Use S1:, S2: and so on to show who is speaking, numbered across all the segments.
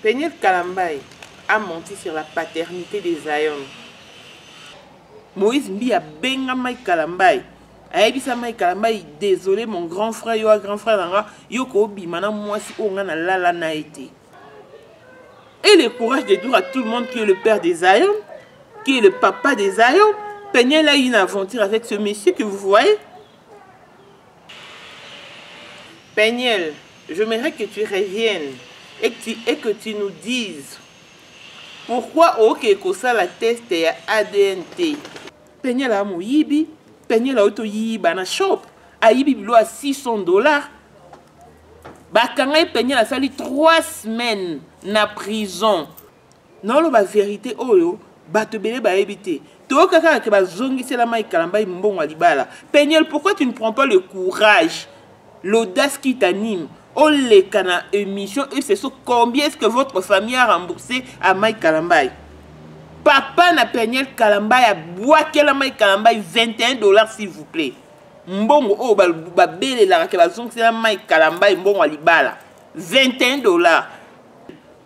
S1: Peniel Kalambay a menti sur la paternite de Zion. Moïse Mbi abenga Mike Kalambay. ayebisa Mike Kalambay désolé mon grand frère yo grand frère na nga yo kobima na mwasi oyo nga nalala na ye te et le courage de dire à tout le monde qui est le père des Zion qui est le papa des Zion Peniel a une aventure avec ce monsieur que vous voyez Penielle, j'aimerais que tu reviennes et que tu, et que tu nous dises pourquoi ookee kosala test ya ADN te. Penielle a moyibi, Penielle auto yiba na shop, ayibi bilo ya 600 dollars. Bakanga ye Penielle asali 3 semaines na prison. naoloba verite oyo bato ebele bayebi te toyoka kaka ke bazongisela mai kalambai mbongo ya libala peniel pourquoi tu ne prends pas le courage l'audace qui t'anime oleka na émission eseso combien est-ce que votre famille a remboursé à mai kalambai papa na peniel kalambai abwakela mai kalambai 21 dollars s'il vous plaît mbongo oyo babelelaka ke bazongisela mai kalambai mbongo ya libala 21 dollars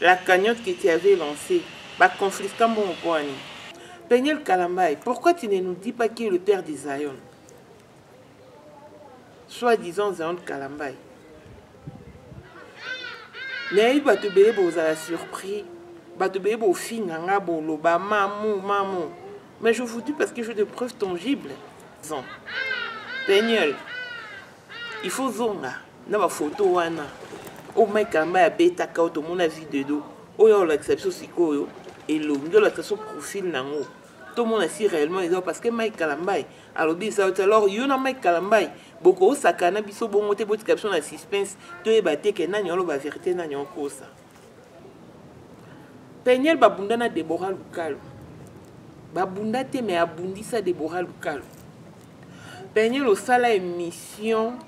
S1: La cagnotte que tu avais lancée, ba confisca mbongo mpo na nini? Peniel Kalambay, pourquoi tu ne nous dis pas qui est le père de Zion? Soit disant Zion Kalambay. nayebi bato ebele bozala surpris bato ebele bofinga nga boloba mamu mamu mais je vous dis parce que je de preuve tangible peniel il faut zonga na ba photo wana o Mike Kamba ya beta ka to mona vidéo do oyo olakisa biso sikoyo elongi olakisa so profil nango to mona si réellement eza parce que Mike Kalambaye alobi eza yo alors yo na Mike Kalambaye boko osaka na biso bongo te botika biso na suspense to yeba te ke nani oloba vérité nani okosa peniel babunda na debora lukalu babunda te me abundisa debora lukalu peniel osala émission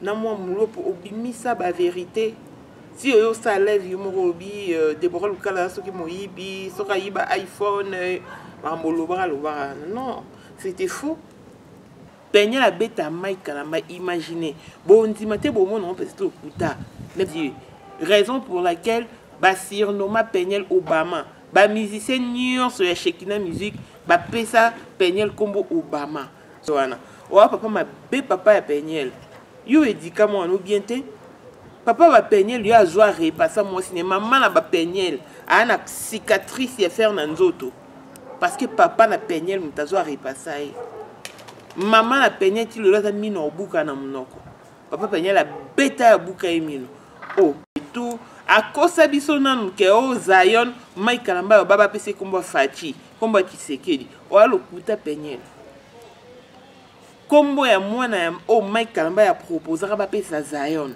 S1: na mwa mulopo obimisa baverité ti oyo osala live yo moko olobi euh, debora lukala soki moyibi soki ayiba iphone euh, makambo olobaka lobaka non c'était faux Peniel abeta Mike Kalamba imagine bondima te bomona ngo peut-être lokuta neti raison pour laquelle ba surnomma Peniel Obama ba musicien nyonso ya Shekina musique bapesa Peniel kombo Obama so wana oa papa mabe papa ya Peniel yo edika mwana bien te papa ba Peniel yo azwa repasa mwasi ne mama na ba Peniel aa na cicatrice ya fer na nzoto parce que papa na peniel moto azo arepasa ye mama na peniel ti lelo aza mino aobuka na monoko papa peniel abeta abuka ye mino o oh, tout akosa biso nanu ke o oh, zion mai kalamba yo baba apesi nkombo ya faci nkombo ya kisekedi oya oh, lokuta peniel nkombo ya mwana ya oyo oh, mike kalamba ya proposaka bapesa zion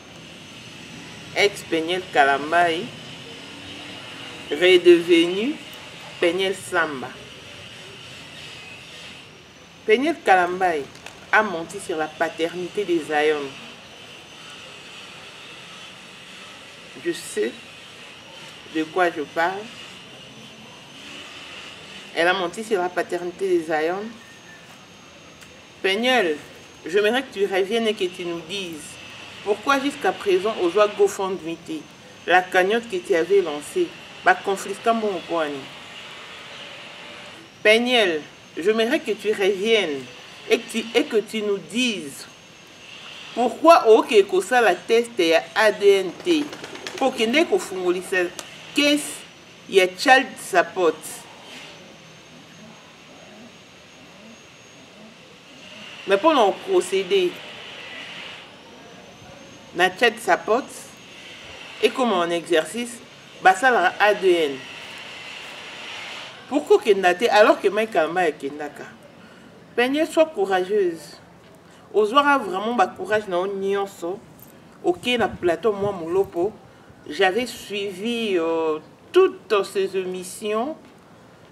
S1: ex peniel kalambayi redevenu peniel samba peniel kalambayi a menti sur la paternité de zion je sais de quoi je parle elle a menti sur la paternité de zion Peniel, j'aimerais que tu reviennes et que tu nous dises pourquoi jusqu'à présent ozwa GoFundMe te la cagnotte que tu avais lancée ba confisca mbongo mpo ani Peniel, j'aimerais que tu reviennes et que tu, et que tu nous dises pourquoi okee kosala test ya ADN te mpo okendeki kofungolisa case ya child support mais mpo na oprocede na chat support ekoma en exercice basalaka adn pourkoi okenda te alors ke mai kalamba yakendaka penie soit courageuse ozwaka vraiment bacourage na yo nyonso okei na plateau mwa molopo j'avais suivi euh, toutes ces émissions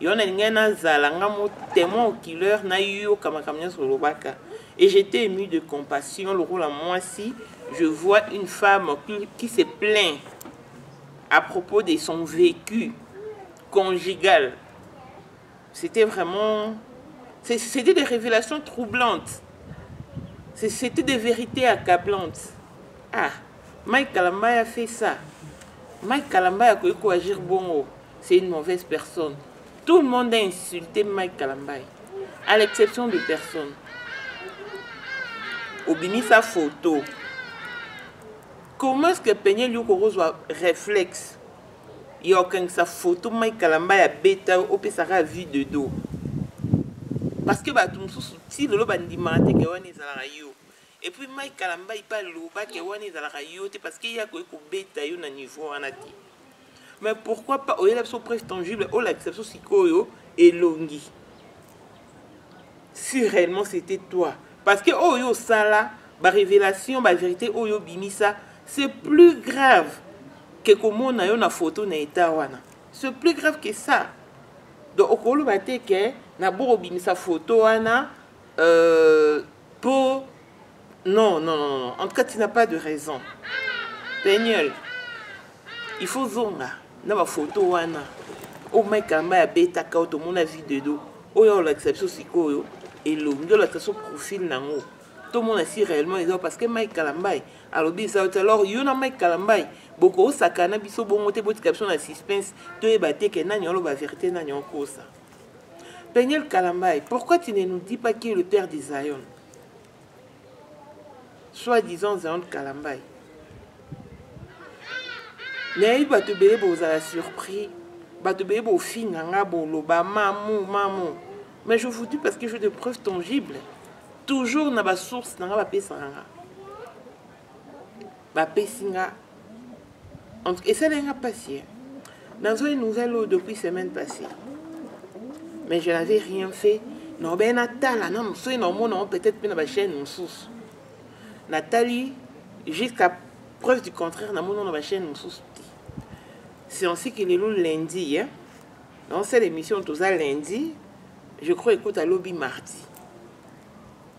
S1: yo na lingai nazala nga mo témoin oculaire nayoka makambo nyonso olobaka et j'étais ému de compassion lokola mwasi je vois une femme qui se plaint à propos de son vécu conjugal c'était vraiment c'était des révélations troublantes c'était des vérités accablantes ah mike kalambay a fait ça mike kalambay akoki koagir bongo c'est une mauvaise personne tout le monde a insulté mike kalambay à l'exception de personne obimisa photo comment est ce que peniel yo kokozwa réflexe ya okangisa photo mai kalamba ya beta yo opesaka vue de dos parce que bato mosusu ti lelo bandimaka te ke wana ezalaka yo et puis mike kalambayi mpe aloba ke wana ezalaka yo te parce que ye akoki kobeta yo na niveau wana te mais pourquoi pas oyela biso preuve tangible olakisa biso sikoyo elongi si réellement c'était toi parce que oyo yo osala barévélation bavérité oyo obimisa c'est plus grave ke komona yo na foto na etat wana c'est plus grave que ça donc okoloba te ke naboko obimisa foto wana euh, Po non non non non. En tout cas tu n'as pas de raison. Peniel. Il faut zonga na ba photo wana. O Mike Kamba ya beta ka otomona vie de dos. Oyo olakisa biso sikoyo elongi olakisa biso profil nango. tomona si réellement eza parce que mike kalambai alobi eza te alors yo na mike kalambai bokosakana biso bongo te botika biso na suspense toyeba te ke nani oloba verité nani okosa Peniel Kalambay, pourquoi tu ne nous dis pas qui est le père de Zion Soi-disant Zion Kalambay. nayebi bato ebele bozala surpris bato ebele bofinga nga boloba mamu mamu mais je vous dis parce que je de preuve tangible toujours na basource na nga bapesaka nga bapesi nga esaleli nga mpasi nazoi nouvelle oyo depuis semaine passée mais je n'avais rien fait naobei natala nano soki naomona yango peut-être mpe na bachaine mosusu natali jusqu'à preuve du contraire namoni na bachaine mosusu te c'est ainsi que lelo lundi hein? dans cette émission toza lundi je crois écoute à lobi mardi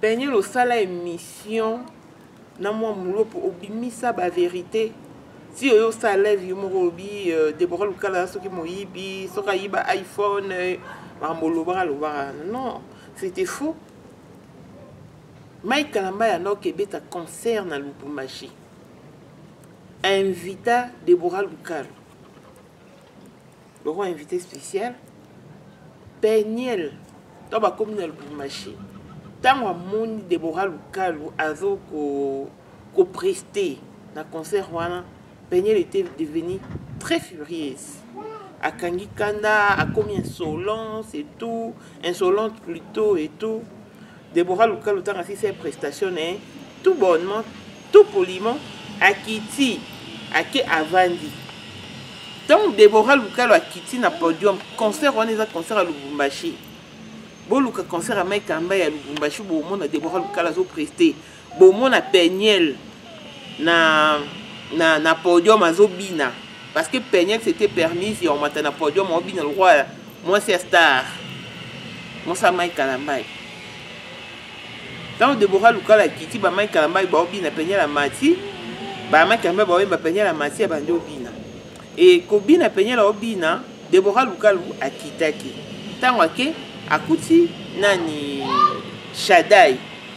S1: Peniel osala émission na mwa mulo mpo obimisa ba verité ti oyo osala live yo moko olobi euh, debora lukala soki moyibi soki ayiba iphone euh, makambo olobaka lobaka non c'était faux mike kalamba ya noki ebeta concert na lubumbashi invita debora lukala boko invité spécial peniel to bakomi na lubumbashi ntango amoni debora lukalu azo kopreste ko na concert wana peniel était devenu très furieuse akangi kanda akomi insolence et tout insolente plutôt et tout Deborah Luka Lutanga asisi ye prestation na ye tout bonnement tout poliment akiti ake avandi ntango Deborah Lukalo akiti na podium concert wana eza concert ya Lubumbashi boluka concert ya Mike Kamba ya Lubumbashi bomona Deborah Lukalo azopreste bomona peniel na, na, na podium azobina parce que peniel c'était permise ya omata na podium aobina lokola mwasi ya star mosala mai kalambai ntango debora lukala akiti bamai kalambai baobina peniel amati bamai kalambai baoyemba peniel amati abandi obina e kobina peniel aobina debora lukalu akitaki ntango ake akuti nani shadai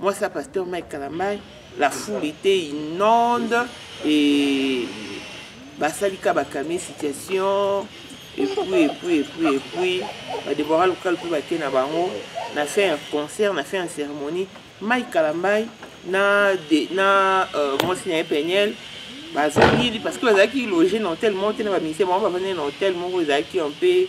S1: Moi ça pasteur Mike Kalamai la foule était inonde et basalika bakamie situation epuis epuis epuis epuis badebora lokale mpe bake na bango na fin ya concert na fin ya cérémonie mai kalambai na, de, na euh, mwasi na ye peniel bazongili parce que bazalaki loge na hotel moko te na baministère bango bavandaki na hotel moko ezalaki mpe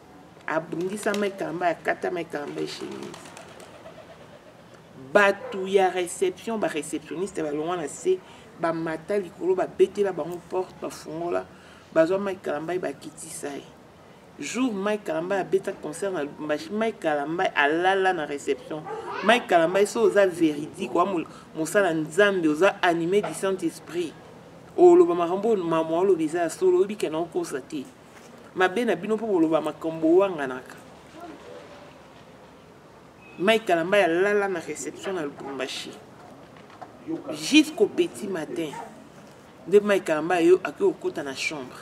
S1: abundisama ekamba akatama ekamba echemise bato ya réception baréceptionniste balongwa na se bamata likolo babetela bango porte bafungola bazwa mike kalambai bakitisa ye jour mike kalambai abeta concert na lubumbashi mike kalambai alala na réception mike kalambai so oza véridique wa mosala nzambe oza animé du saint esprit oloba makambo oyo mama oloba eza ya solo oyebi kena okosa te mabe na bino mpo boloba makambo owanganaka mike kalamba ya lala na réception na lubumbashi jusqu'au petit matin nde mike kalamba yo akoki kokota na chambre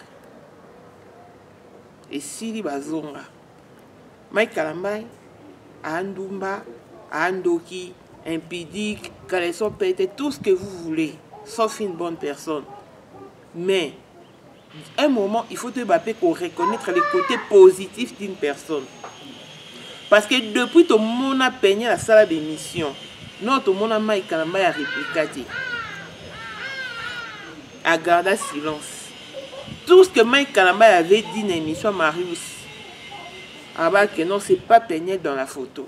S1: esili bazonga mike kalamba andumba andoki impudique caleçon pete tout ce que vous voulez sauf une bonne personne mais un moment il faut toyeba mpe koreconnaitre le côté positif d'une personne parce que depuis tomona peignel asala bémission non tomona mai kalamba ya réplica te agarda silence tout ce que mai kalamba avait dit na émission marius abake non c'est pas peignel dans la photo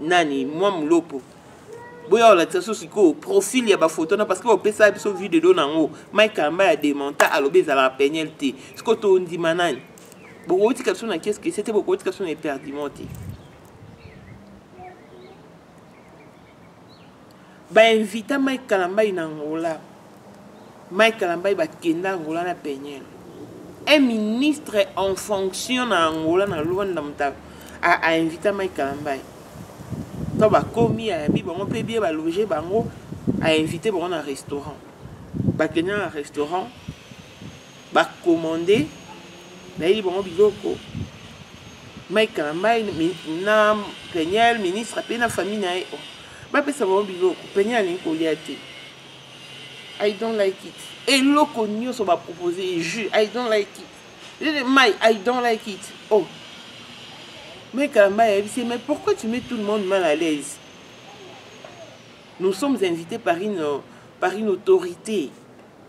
S1: nani mwa mulopo boya olakisa so sikoyo profil ya bafoto na parce que opesa biso vue de do na yango mike kamba ya demanta alobi ezalaka peniel te sikoyo tondima nani bokotika biso na keske se te bokotika biso na eperdiment te ba invita Mike Kalambay na Angola Mike Kalambay bakenda Angola na Peniel un ministre en fonction na Angola na Luanda mutaka a, a invita Mike Kalambay to bakomi ayabi bango mpe bie baloge bango a invite bango na restaurant bakenda na restaurant ba commande nayeli bango biloko mike kalambai na peniel ministre mpe na famille na ye oh, bapesa bango biloko peniel alingi kolia te i don't like it eloko nyonso bapropose ye jus i don't like it lele mai i don't like it oh mai kalamba ayebisi ye mais pourquoi tu mets tout le monde mal à l'aise nous sommes invités par une, par une autorité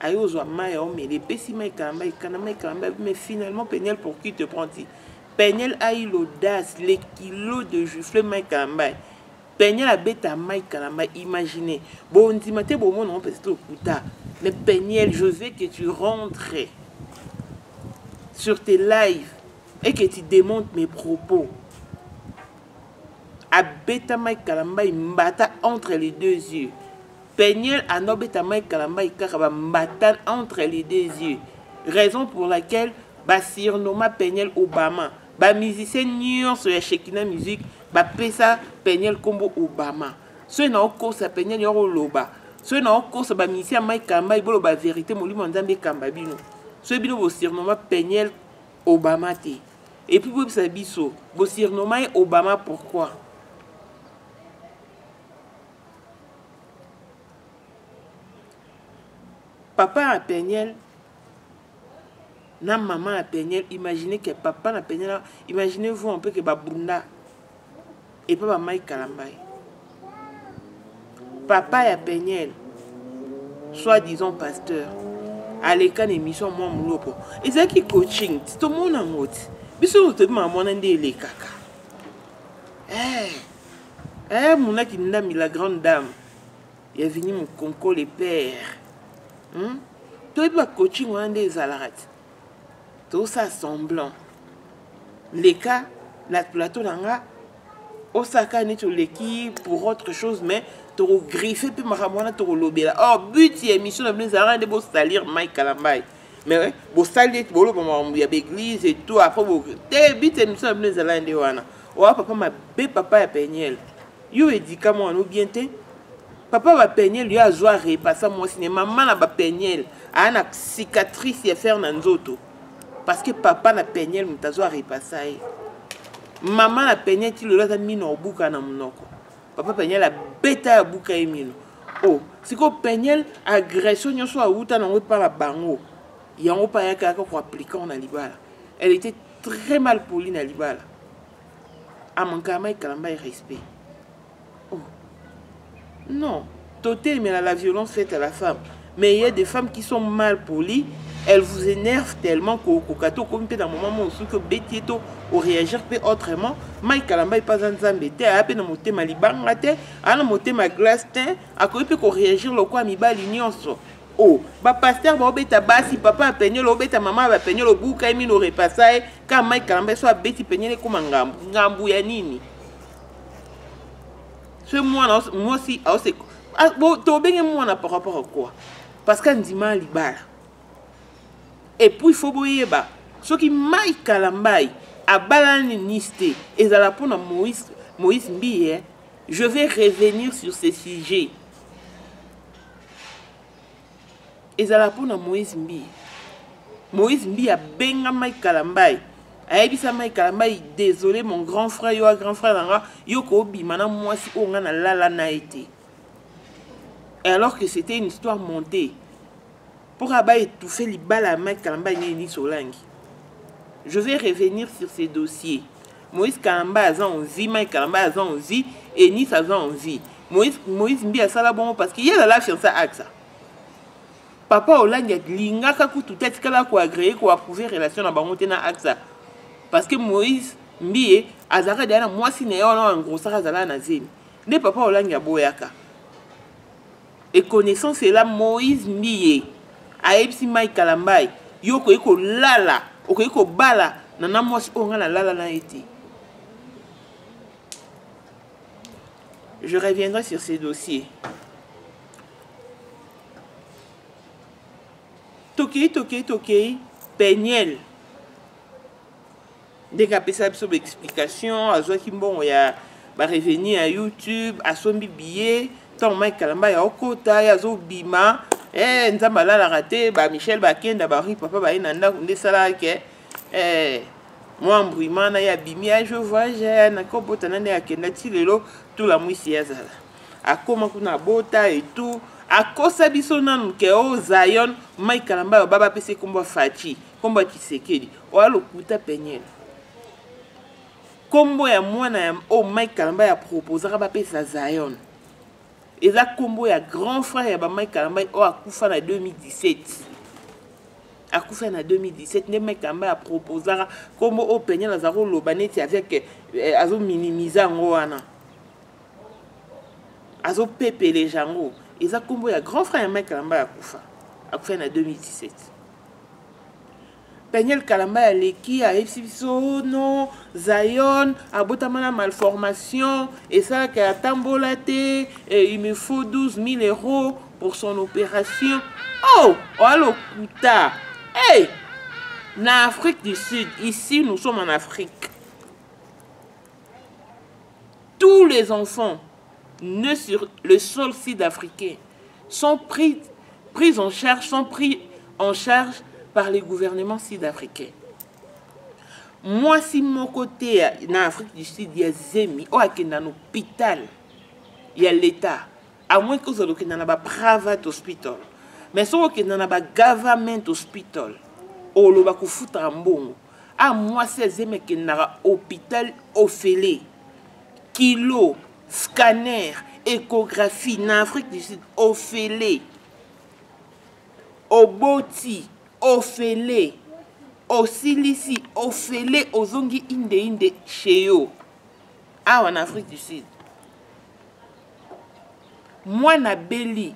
S1: ayo ozwa mai ya omela epesi mai kalamba ekana mai kalamba mais finalement peniel pour qui te prend ti peniel ayi l'audace le kilo de jufle mai kalamba peniel abeta mai kalamba imagine bondima te bomona ngo mpenza tokuta mais peniel je veux que tu rentres sur tes lives et que tu démontes mes propos abeta mai kalamba mbata entre les deux yeux Peniel anda obeta Mike Kalambay kaka ba mbatane entre les deux yeux. Raison pour laquelle ba sirnoma Peniel Obama. Ba musiciens nyonso ya Shekina Musique ba pesa Peniel kombo Obama. Soki na okosa Peniel yoko loba. Soki na okosa ba musiciens Mike Kalambay bolo ba vérité molimo nzambe kamba bino. Soki bino bo sirnoma Peniel Obama te. Et puis boyebisa biso bo sirnoma ye Obama pourquoi? papa ya peniel na mama ya peniel imaginez ke papa na peniel imaginez vous un peu ke babunda epa bamai kalambai papa ya peniel soit disant pasteur aleka na émission mwa moloko ezalaki coaching ti tomona yango ti biso toyebi makambo wana nde elekaka eh. eh muna kindami la grande dame ya vini mokonko le père hmm? toyebi bacoaching wana nde ezalaka ti tosala semblant leka na plateau na nga osaka neti oleki pour autre chose mais tokogriffe mpe makambo wana tokolobela or but ya émission na bino ezalaka nde bosalir mike kalambai mais bosali ete boloba makambo ya baeglise eto après bo te bite émission na bino ezalaki nde wana owa papa mabe papa ya peniel yo edika mwana o bien te papa bapeniel yo azwa repasa mwasi ne mama na bapeniel aa na cicatrice ya fer na nzoto parce que papa na peniel moto azwa repasa ye mama na peniel ti lelo aza mino obuka na monoko papa peniel abeta ya buka ye mino o oh, sikoyo peniel agression nyonso awuta nango epa na bango yango mpe ayaka yaka koappliquant na libala elle était très mal poli na libala amankama ekalamba ya respect oh non totelemela la violence faite à la femme mais il y a des femmes qui sont mal polies elles vous énervent tellement kokoka to okomi mpe na moment moko soki obeti ye to oréagir mpe autrement mai kalamba epa aza nzambe te aya mpe na motema libanga te aa na motema glace te akoki mpe koréagir lokola mibali nyonso o oh, bapaster baobeta basi papa ya peniole obeta mama ya bapeniole obuka ye mino orepasa ye kaka mai kalamba ye so abeti peniole ekoma ngambu ngambu ya nini ce mwana mwasi aose ah, tobenge mwana par rapport à quoi parce que andima libala epuis fo boyeba soki mai kalambai abalani nice te ezala mpo na moïse, moïse mbiye je vais revenir sur ce sujet ezala mpo na moïse mbiye moïse mbiye abengamaki kalambayi ayebisamaki kalambayi désolé mon grand frère yo a grand frère na nga yo koobima na mwasi oyo nga nalala na ye te et alors que c'était une histoire montée mpo kaka ba étouffe libala ya mike kalambayi nini solangi je vais revenir sur ces dossiers Moïse Kalambay aza en vie, Mike Kalambay aza en vie, Eunice aza en vie. Moïse, Moïse Mbi asala bongo parce que ye lala fiancé axa. Papa Olangi alingaka kutu te atikala ko agréer ko approuver relation na bango te na axa. Parce que Moïse Mbi azalaka deja na mwasi na ye wana engrossaka azalaka na zemi. Nde papa Olangi aboyaka. et connaissant cela moïse mbiye ayebisi mike kalambai yo okoki kolala okoki kobala na na mwasi oyo ngai nalala na ye te je reviendrai sur ce dossier tokei tokei tokei peniel ndenge apesa biso baexplication azwaki mbongo ya barevenu ya youtube asombi biye ntango mike kalamba ya okota ye azobima hey, eh, nzambe alalaka te ba michel bakenda bari papa baye na ndako nde esalaka ke hey, eh, mwa mbrimana ye abimi ya je voyage eh, nakobota na nde akenda ti lelo tolamwisi ye azala akoma kuna abota etout akosa biso nanu ke o oh, zion mike kalamba yo baba apesi ekombo ya faci kombo ya kisekedi oya lokuta peniele kombo ya mwana ya oyo oh, mike kalamba ya proposaka bapesa zion eza kombo ya grand frère ya bamike kalamba oyo oh, akufa na 2017 akufa na 2017 nde mike kalamba ya proposaka kombo oyo oh, peniele aza koloba neti avec eh, azominimize yango wana azopepele jango eza kombo ya grand frère ya mike kalamba ya kufa akufa na 2017 Daniel Kalambay aleki ayebisi biso no Zion abotama na malformation esalaki atambola te eh, il me faut 12 000 euros pour son opération oh oya lokuta hey! na Afrique du Sud ici nous sommes en Afrique tous les enfants nés sur le sol sud-africain sont pris, pris en charge, sont pris en charge par les gouvernements sud-africains. mwasi moko te na afrique du sud ya zemi oyo akenda na hôpital ya leta amoyeki ozala okenda na baprivate hospital mais soki okenda na bagovernment hospital oloba kofutaka mbongo a mwasi ya zemi akendaka hôpital ofele kilo scanner échographie na afrique du sud ofele oboti ofele osilisi ofele ozongi indeinde chez yo awa na afrique du sud mwana abeli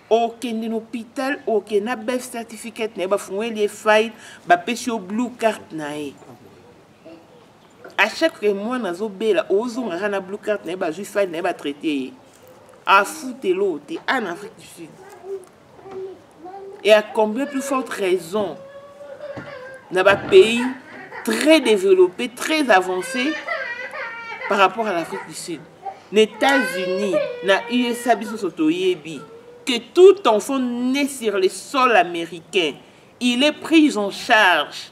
S1: okende na hôpital okende na bef certificate na ye bafungweli ye file bapesi yo blue carte na ye à chaque que mwana azobela ozongaka na blue carte na ye bazwi file na ye batraite ye afutelo te a na afrique du sud et à combien plus forte raison na bapays très développé très avancé par rapport à l'afrique du sud na états-unis na usa biso so toyebi que tout enfant né sur le sol américain il est pris en charge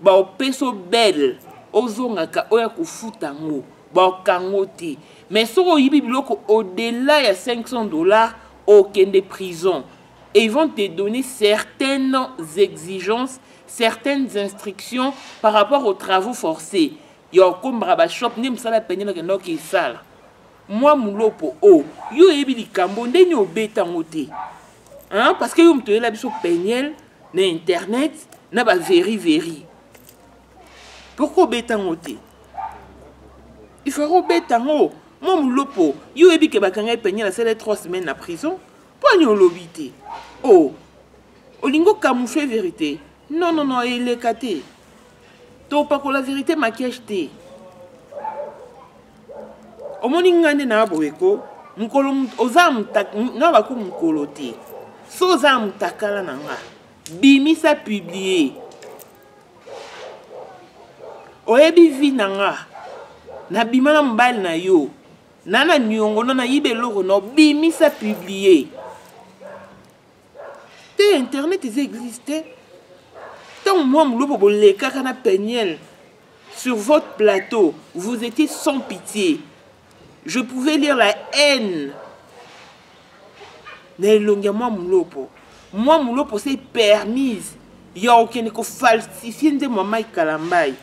S1: baopeso belle ozongaka oya kofuta yango baokango te mais soki oyibi biloko au-delà ya 500 dollars okende prison et ils vont te donner certaines exigences certaines instructions par rapport aux travaux forcés ya okombaka bashop nde mosala pene bakenda okesala mwa mulopo o oh, yo oyebi likambo ndeni obeta yango te hein? parce que yo moto oyela biso peniel na internet na ba veri veri pourkoi obeta yango te il faut kobeta yango mwa molopo yo oyebi ke bakanga epeniel asala 3 semaine na prison mpo ani olobi te o oh, olingi okamoufle verité non non non eleka te topakola verite maquillage te omoni ngai nde na boye ko mokolo oza nga bako mokolo te so oza ya motakala na nga bimisa publie oyebi vi na nga nabima na mobali na yo na na niongo no nayiba eloko no bimisa publie te internet eza eglise te ntango mwa molobo bolekaka na peniel sur votre plateau vous étiez sans pitié je pouvais lire la haine na elongi ya mwa molopo mwa molopo se permise ya okende kofalsifie nzembo ya mike kalambai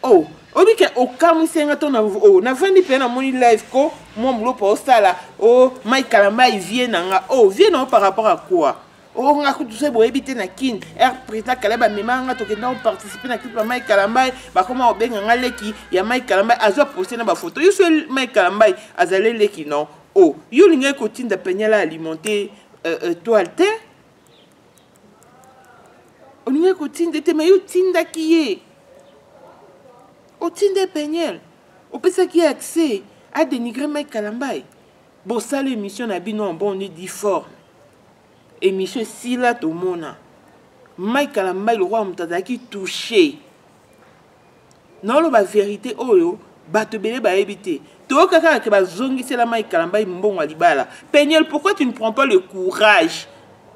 S1: oh oyebi ke okamwisi nga to na oh, navandi mpe namoni live ko mwa mulopa osala o oh, mai kalambai vie na nga o oh, vie na yo par rapport à quoi o oh, nga kutu se boyebi te na kin r président kala bamema nga tokenda koparticipe na clip ya mai kalambai bakoma kobenga nga leki ya mai kalambai azwa poste na bafoto yo so mai kalambai azali leki non o yo olingaki kotinda peniala alimente euh, euh, toile te olingaki kotinda ete me yo otindaki ye otinda peniel opesaki ye accès adenigre mike kalambai bosala émission na bino en bon dit fort émission esila tomona mike kalambai lokola moto azalaki touche naoloba verite oyo bato ebele bayebi te toyoka kaka ke bazongisela mai kalambai mbongo ya libala peniel pourquoi tu ne prends pas le courage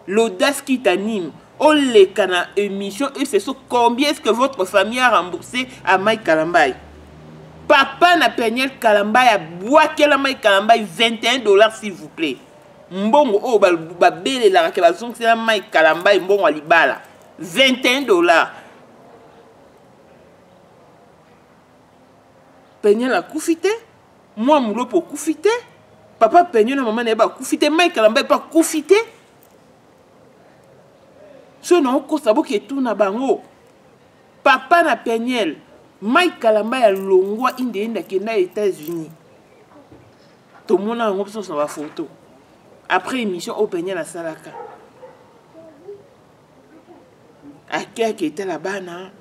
S1: l'audace qui t'anime oleka na émission eseso combien est ce que votre famille a remboursé à mai kalambai papa na peniel kalambai abwakela mai kalambai 21 dollars s'il vous plaît mbongo oyo babelelaka ke bazongisela mai kalambai mbongo ya libala 21 dollars peniel akufi te mwa mulopo okufi te papa peniel na mama na ye bakufi te mike lamba epe akufi te soki naokosa boketuna bango papa na peniel mike kalamba ya longwa inde inde akenda états-unis tomona yango biso na bafoto après émission oyo peniel asalaka akeyaki etala bana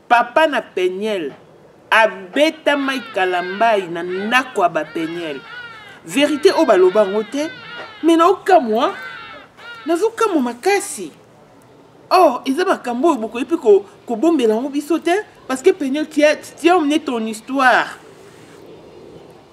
S1: papa na peniel abetamaki kalambai na ndako ya bapeniel verité oyo baloba yango te me naokamwa nazokamwa makasi or eza makambo oyo bokoki mpe kobombela yango biso te parce que peniel tiamne ton histoire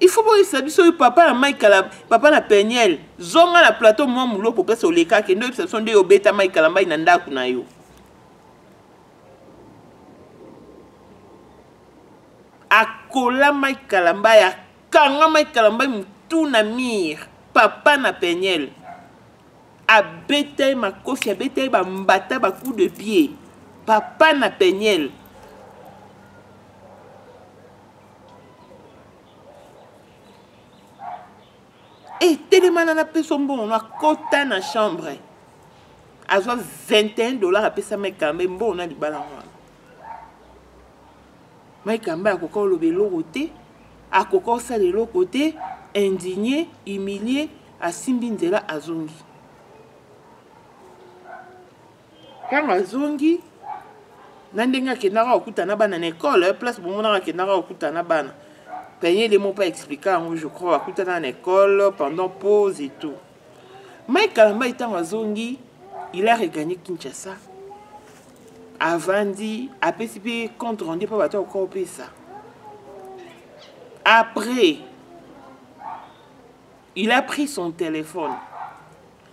S1: il faut boyebisa biso oyo papa na mike kala papa na peniel zonga na plateau mwa muloko place olekaki nde oyebisa biso nde obeta mike kala mbai na ndako na yo akola mike kalambai akanga mike kalambai motu na mire papa na peniel abeta ye makofi abeta ye bambata bacoup de pied papa na peniel etelemana na peso mbongo na kota na chambre azwa 21 dollar apesa maikambe mbongo na libala wana maikambe akoka oloba eloko te akoka osala eloko te indigne humilie asimbi nzela azongi ntango azongi na ndenge akendaka kokuta na bana na ekole eh, place bomonaka akendaka kokuta na bana panye de mopa explika yango je crois bakutana na ekole pendant pause et tout mai kalambai ntango azongi il a regagné kinshasa avandi apesi mpe compte rendu mpo bato akoka kopesa après il a pris son téléphone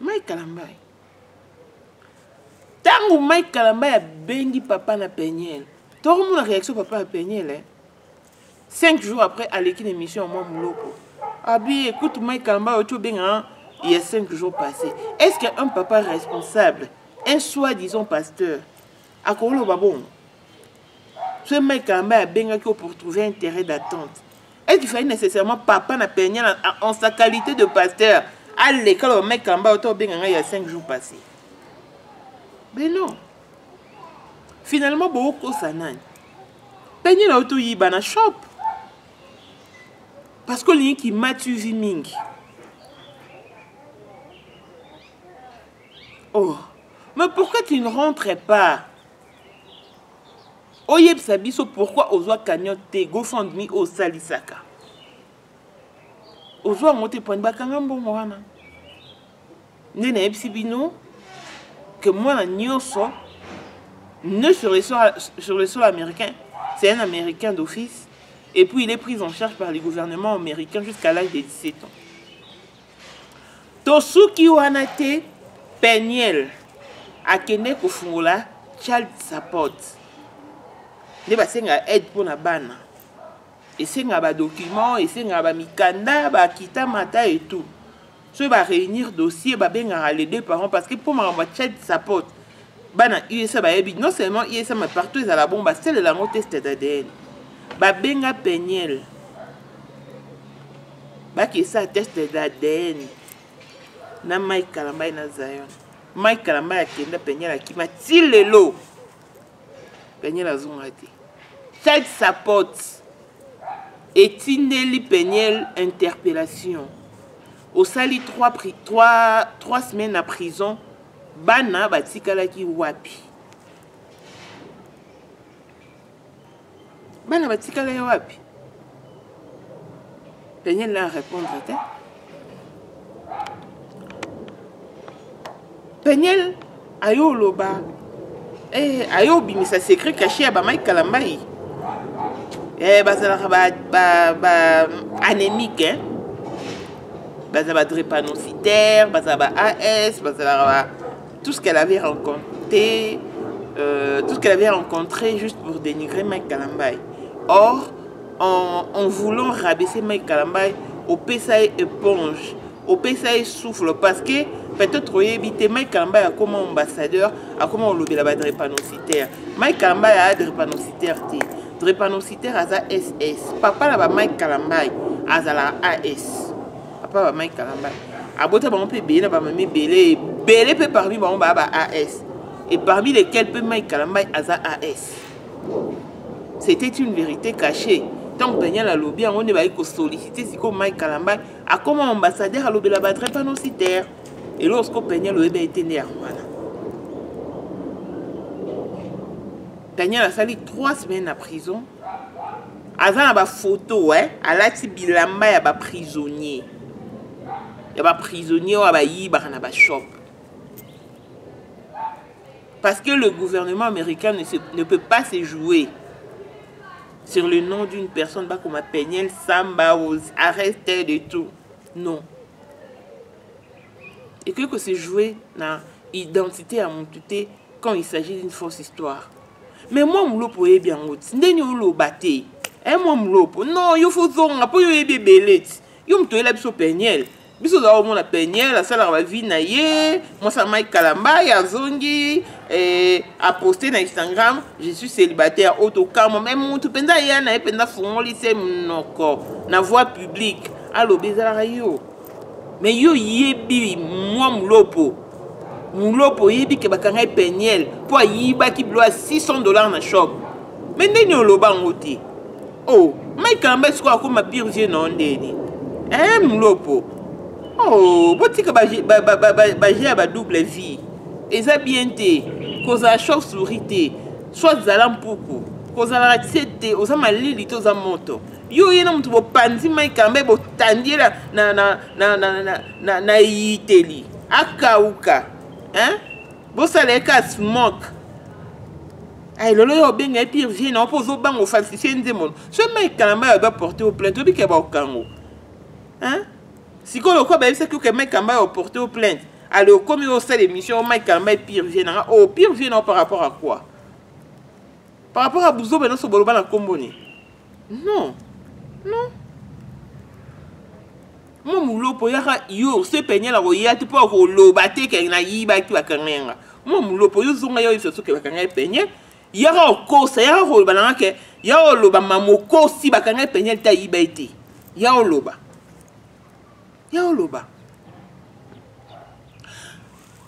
S1: mike kalambayi ntango mike kalambayi abengi papa na peniele tokomona réaction papa na peniele eh? cinq jours après aleki na émission ya mwa moloko abi écoute mike kalambayi oti obengana il y a cinq jours passé est ce qu'un papa responsable un soi disant pasteur akoloba bongo soki mike kalambayi abengaki yo pour trouver intérêt d'attente est il fallait nécessairement papa na peigne na, en sa qualité de pasteur aleka aloba mai kamba oto obenga ngai ya 5 jours passé mais non finalement bokokosa nani peigne na yo toyiba na shop parce que olingi kimatuvi mingi oh mais pourquoi tu ne rentres pas oyebisa biso pourquoi ozwa cagnotte te gofundme oyo osalisaka ozwa yango te pwani bakanga mbongo wana nde nayebisi bino ke mwana nyonso ne sur le sol, sur le sol américain c'est un américain d'office et puis il est pris en charge par le gouvernement américain jusqu'à l'âge de 17 ans tosuki wana te peniel akende kofungola child support nde basengaka aide mpo na bana esengaka badocument esengaka bamikanda bakita mata etout soki baréunir dossier babengaka les deux parents parce que mpo makambo ya child support bana usa bayebi non seulement usa mais partout ezala bongo basalela yango test d'adn babenga peniel bakisa test d'adn na mike kalambai na zion mike kalambai akenda peniel akima ti lelo peniel azonga te child support etindeli peniel interpellation osali 3 semaines na prison bana batikalaki wapi bana batikalaki wapi daniel na répondre te peniel ayo oloba eh, ayo obimisa secret caché ya bamai kalambai eh, bazalaka ba, ba, ba anemique eh? bazala ba drépanocytaire bazala ba as bazalaka ba tout ce qu'elle avait rencontré euh, tout ce qu'elle avait rencontré juste pour dénigrer mike kalambay or en, en voulant rabaisser mike kalambay opesa ye éponge opesa ye souffle parce que peut-être oyebi te mike kalambay akoma ambassadeur akoma olobela ba drépanocytaire mike kalambay aa drépanocytaire te Drepanocytaire aza SS. Papa na ba Mike Kalambay azala AS. Papa ba Mike Kalambay. Abota bango pe belé na ba mami belé, belé pe parmi bango ba ba AS. Et parmi lesquels pe Mike Kalambay aza AS. C'était une vérité cachée. ntango daniel alobi yango nde bayaki kosollicite sikoyo mike kalambay akoma ambassadeur alobela badre panositaire eloko sikoyo peniel oyebi ete nde yango wana Daniel asali 3 semaines na prison aza na bafoto eh? alati bilamba ya baprisonnier ya baprisonnier oyo bayibaka na bashop parce que le gouvernement américain ne, se, ne peut pas se jouer sur le nom d'une personne bakoma peniel samba arrêté de tout non ekoki kose jouer na identité ya motu te quand il s'agit d'une fausse histoire mais mwa mulopo oyebi yango ti ndeni oloba te e mwa mulopo non yo fozonga mpo yo oyebi ebele ti yo moto oyela biso peniele biso ozala omona peniele asalaka bavi na ye mwasi ya mike kalambai azongi eh, aposte na instagram je suis célibataire oyo tokamwa me motu mpenza aya na ye mpenza afungoli se monoko na voie publique alobi ezalaka yo mais yo yebi mwa mulopo mulopo oyebi ke bakanga ye peniel mpo ayibaki bilo ya 600 dollars na shop me ndeni oloba yango te o oh, mike kalamba sikoyo akoma pire vie nao ndeni e eh, mulopo o oh, botika baje ba, ba, ba, ba, ya badouble vie eza bien te kozala chauve souris te soit zala mpuku kozalaka tie te oza malili te oza moto yo oye na moto bopanzi mai kambe botandi ye na eyiteli akauka bosala ye ka smoke ayi lelo yo obenga ye pire vie na mpo ozobanga ofalsifie nzembo so mai kalamba yo baporte o plainte obike baokango sikoyo lokola bayebisaki oke mai kalamba yo oporte o plainte ale okomi osala émission o mai kalamba ye pire vie nanga o oh, pire vie na yo par rapport à quoi par rapport à buzoba nyonso boloba na nkombo ni non non mo mulopo yaka yo se penyela koya te mpo akoloba te ke nayibaki bakanga yanga mo mulopo yo zonga yo yesu soki bakanga epenye yaka okosa yaka koloba nanga ke ya oloba mamokosi bakanga epenye te ayiba ye te ya oloba ya oloba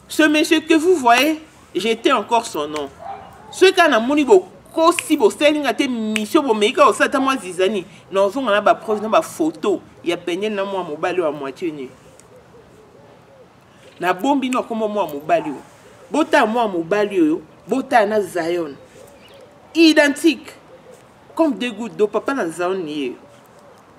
S1: ce monsieur que vous voyez j'étais encore son nom soki kaka namoni bokosi bosali nga te misio bomei kaka osala ta mwa zizani na ozonga na bapreuve na bafoto ya penel na mwa mobali oyo ya moitie nu nabombi no akoma mwa mobali oyo botala mwa mobali oyo botala na zion identique comme deux gouttes d'eau papa na zion ye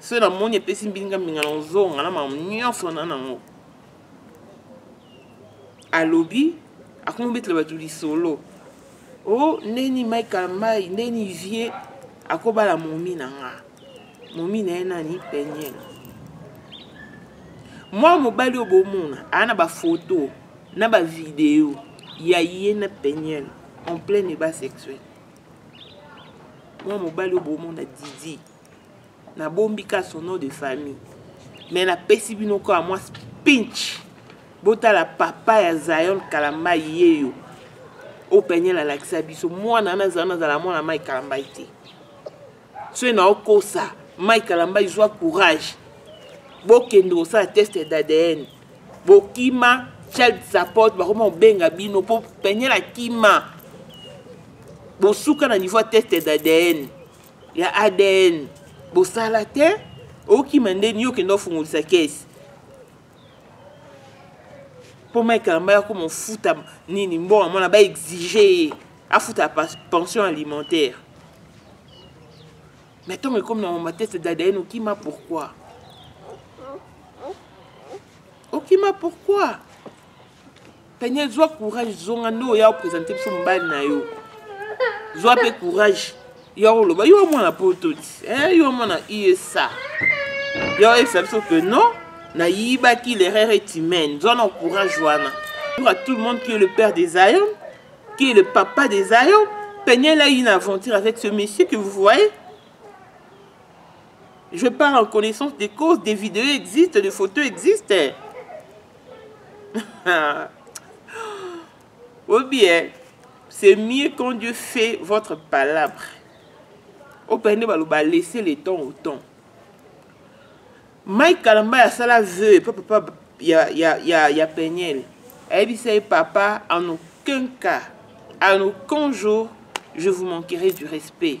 S1: soki namoni epesi mbinga mbinga na ozonga na mamu nyonso na nango alobi akomi obetela bato lisolo o oh, ndeni michael mai ndeni vie akobala momi na nga momi na ye nani peniel mwana mobali oyo bomona aa na bafoto na bavideo ya ye na peniel en plein eba sexuel mwana mobali oyo bomona didi nabombi ka son nom de famille mais napesi bino kaka mwa pinch botala papa ya zion kalamba yeyo oyo peniel alakisa biso mwana wana zion azala mwana mai kalambai te soki naokosa mai kalambai zwa courage bokende kosala test d'adn bokima child support bakoma kobenga bino mpo peniel akima bosuka na niveau ya test d'adn ya adn bosala te okima nde ni okende ofungolisa kesi mpo mike kamba yako mofuta nini mbongo mwana baexige ye afuta pension alimentaire mais ntango ekomi na mamatete dadayen okima pourquoi okima pourquoi Peniel zwa courage zonga nde oya opresente biso mobali na yo zwa mpe courage yo akoloba yo mwana poto ti eh, yo mwana usa yo oyebisa biso ke non nayibaki l'erreur est humaine zwa na courage wana pour à tout le monde qui est le père des ayon qui est le papa des ayon peniel a une aventure avec ce monsieur que vous voyez je parle en connaissance des causes des vidéos existent des photos existent ou bien c'est mieux quand dieu fait votre palabre opene nde baloba laisse le temps au temps mike kalamba asala veu epa papa ya, ya, ya, ya peniel ayebisa ye papa en aucun cas en aucun jour je vous manquerai du respect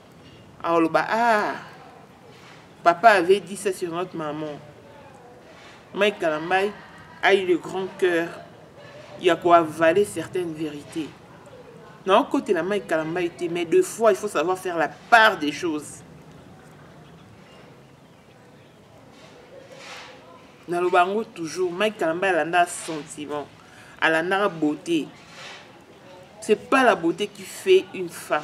S1: aoloba ah papa avait dit ça sur notre maman mike kalambai a eu le grand cœur ya koavale certaines vérités naokotela mike kalambai te mais de fois il faut savoir faire la part des choses naloba yango toujours mike kalambai alandaka sentiment alandaka beauté c'est pas la beauté qui fait une femme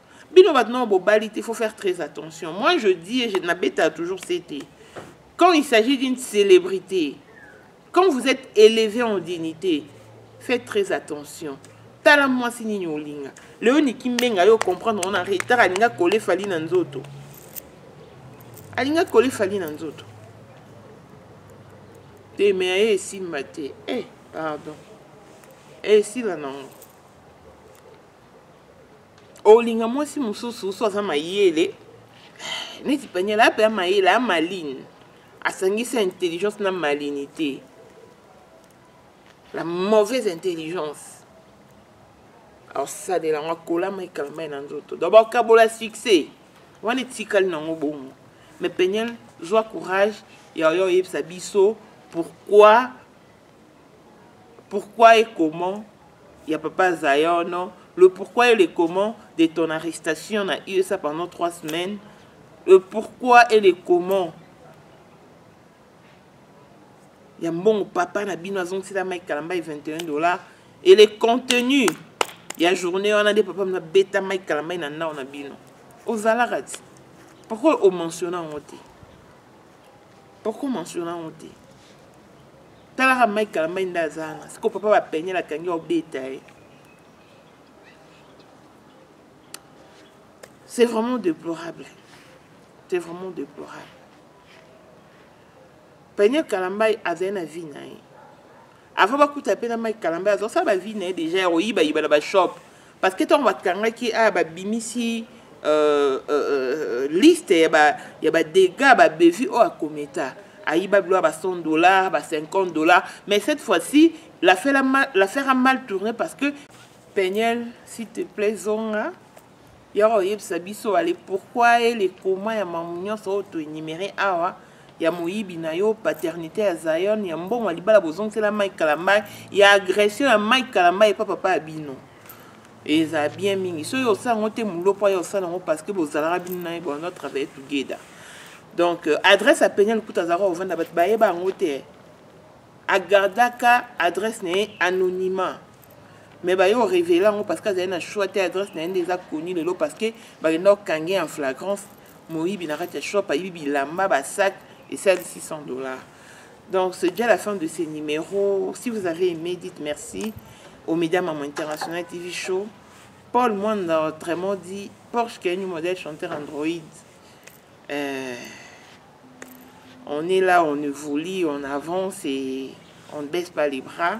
S1: bino bato nao bobali te faut faire très attention moi je dis je nabeta toujours cete quand il s'agit d'une célébrité quand vous êtes élevé en dignité faites très attention tala mwasi nini olinga leo niki mbenga yo comprendre ona retard alinga kole fali na nzoto alinga kole fali na nzoto te me aye esimba te eh pardon esila nango olinga mwasi mosusu so aza mayele neti paniel ape ya mayele ya maline asangisi intelligence na malinité la mauvaise intelligence aosalela yango akolama ekalama ye na nzoto donc bakabola succès wana etikali nango bongo mais peniel zwa courage yayo oyebisa biso pourquoi Pourquoi et comment ya papa Zion, le pourquoi et le comment de ton arrestation na USA pendant trois semaines, le pourquoi et le comment ya mbongo papa na bino azongisela mike kalamba ye 21 dollars et le contenu ya journée wana nde papa mna beta mike kalamba ye na ndao na bino ozalaka ti pourquoi omensiona yango te oko mentionne yango te talaka mike kalambay nde aza wana siko papa bapenyela akangi obeta ye c'est vraiment déplorable c'est vraiment déplorable peniel kalambay azali na vie na ye avant bakuta mpe na mike kalamba azosala bavie na ye deja ya koyibayiba na bashop parce que ntango bakangaki aya ah, babimisi euh, euh, euh, liste ya badega babevi oyo akometa ayiba bilo ya ba 100 dollars ba 50 dollars mais cette fois-ci l'affaire a mal tourné parce que peniel s'il te plaît zonga yaka oyebisa biso ale pourquoi e le comment ya mamu nyonso oyo toenumere awa ya moyibi na yo paternité ya zion ya mbongo ya libala bozongisela mike kalambai ya agression ya mike kalambai epa papa ya bino eza bien mingi soki osala yango te molopwa ye osala yango parce que bozalaka bino na ye bono travaille together donc euh, adresse ya penia lokuta azalaka ovanda bato bayeba yango te agardaka adresse na ye anonymat mais baye orevele yango parce que azali na choix te adresse na ye nde eza koni lelo parce que bakenda kokange en flagrance moyibi na kati ya shop ayibi bilamba basac esali 600 dollars donc c'est déjà la fin de ce numéro si vous avez aimé dites merci au média mamo international tv show paul mwanda autrement dit porsche kenu modèle chanteur android euh, on est là on évolue on avance et on ne baisse pas les bras